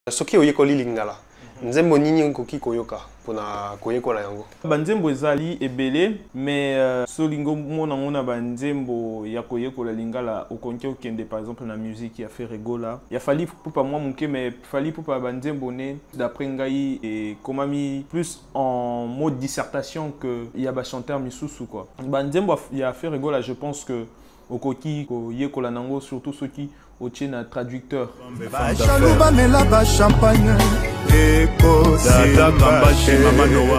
soki oyekoli lingala nzembo nini okoki koyoka mpona koyekola yango banzembo ezali ebele me uh, so olingi omona yango na banzembo ya koyekola lingala okonki okende par exemple na musique ya feregola ya fali pupa mwa moke me fali pupa banzembo ne d'après ngai ekomami plus en mode dissertation que ya bachanteur misusu quoi banzembo ya feregola je pense que okoki koyekola nango surtout soki otie na traducteur bajaloux bamela ba champagne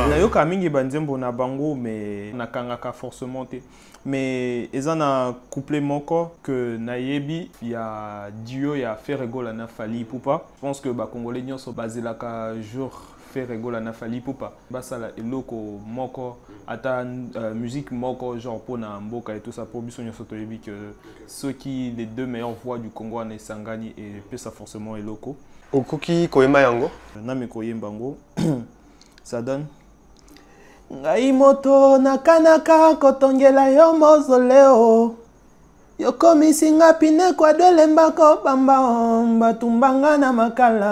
nayoka mingi banzembo na bango me nakangaka forcement te me eza na couple moko ke nayebi ya duo ya ferregola na fali ipupa je pense que bacongolais nyonso bazelaka jour Ferre Gola na Fally Ipupa basala eloko moko ata euh, musique moko genre pour na mboka et tout ça pour biso nyoso toyebi que ceux qui les deux meilleures voix du Congo en Esangani et pesa forcément eloko okoki koyemba yango na me koyemba yango ça donne ngai moto nakanaka kotongela yo mozoleo yokomisi nga pine kwadolembako bamba batumbanga na makala